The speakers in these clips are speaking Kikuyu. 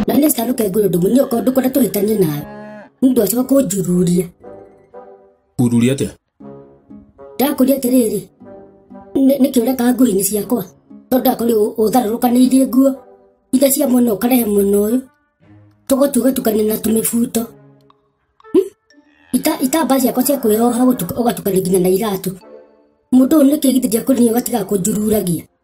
none sika rũkenge ũyũ ndũmũ nĩoka ũndũ kwenda tũhĩtanie nawe nĩndũ acoka kũnjururia Ururi atĩa? ndakũria atĩrĩrĩ nĩ- nĩkĩ ũreka nguo-inĩ ciakwa tondũ ndakũrĩ ũtharũrũkanĩirie nguo ithe cia mwena ũkarehe mwena ũyũ tũgotu ũgatukania na tũmĩbuto Hmm? Ita- itambaa ciakwa cia kwĩyoha gũtuka- ũgatukania nginya na iratũ mũndũ ũyũ nĩkĩ githĩ ndiakũrĩ ũgatiga kũnjururagia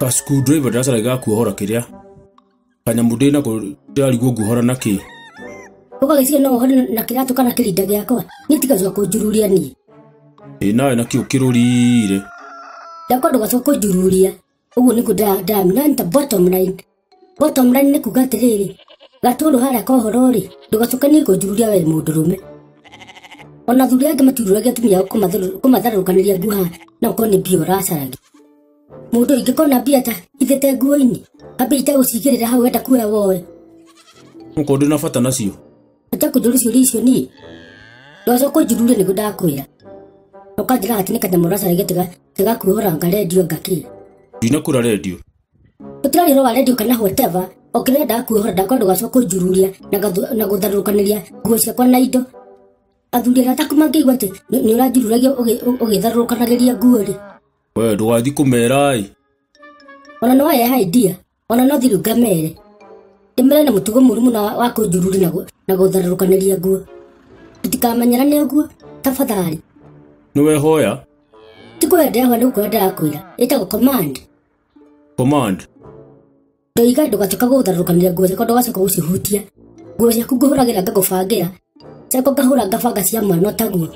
Ka screwdriver ndacaraga ga kuohora kĩrĩa. Kanyamũ ndĩ nako ndĩrarigwo nguohora na kĩ. Ũgagĩciria no ũhore na kĩratũ kana kĩrinda gĩakwa. Niĩ tigacoka kũnjururia niĩ. Ĩ nawe nakĩo kĩrũrire. Ndakwa ndũgacoka kũnjururia. Ũguo nĩguo ndĩra- ndĩramenya. Nĩ ta bottom line. we tomrani nĩ kuga atĩrĩrĩ gatũrũ harĩa kohoro-rĩ ndũgacokanie kũnjururia we mũndũrũme ona thuri angĩ matiurũragia atumia ao kũmatharũ- kũmatharũrũkanĩria nguo haha na ũkorwo nĩ mbia ũracaragia mũndũ ingĩkona mbia ta ithĩte nguo-inĩ ambia itagũcigĩrĩra hau wenda kuoya woe mũkũ ndĩ na bata nacio ata kũnjũria ciũria icio niĩ ndwacoka ũnjururie nĩguo ndakwĩra ũkanjĩra atĩ nĩ kanyamũ ũracaragia tiga- tigakuohora ngarendio ngakĩra ndinakura rendio tũtirarĩrwo redio kana whatever o kĩrĩa ndaa kuohora ndakwa ndũgacoka kũnjururia na gathu- na gũtharũrũkanĩria nguo ciakwa na indo athuri arĩa ataku mangĩigua atĩ nĩ nĩ ũranjururagia ũgĩ- ũ- ũgĩtharũrũkanagĩria nguo-rĩ we ndũgathiĩ kũmera-ĩ ona no yeha idia ona no thiru ngamere ndĩmere na mũtugo mũru mũno wa- wa kũnjururi na gũ- na gũtharũrũkanĩria nguo tũtikamenyerane ũguo tafadhali nĩwehoya ti kũhe ndĩrahoya nĩ gũkorwo ndĩrakwĩra ĩtagwo command Command. Ndaiga ndũgatuĩka gũtharũrũkanĩria nguo ciakwa ndũgacoka gũcihutia nguo ciaku ngũhũragĩra ngagũbangĩra ciakwa ngahũra ngabanga cia mwana taguo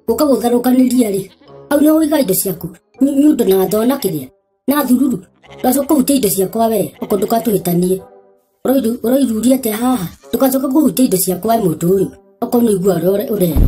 gũka gũtharũkanĩria rĩ hau nĩ ũiga indo ciaku Nĩ- nĩ ũndũ na thoo na kĩrĩa na thururu ndũgacoka kũhutia indo ciakwa wee ũkũ ndũgatũhĩtanie Ũroiru- ũroiruria atĩa haha ndũgacoka kũhutia indo ciakwa wee mũndũ ũyũ okorwo nĩ igua ũrĩa ũre- ũrerwo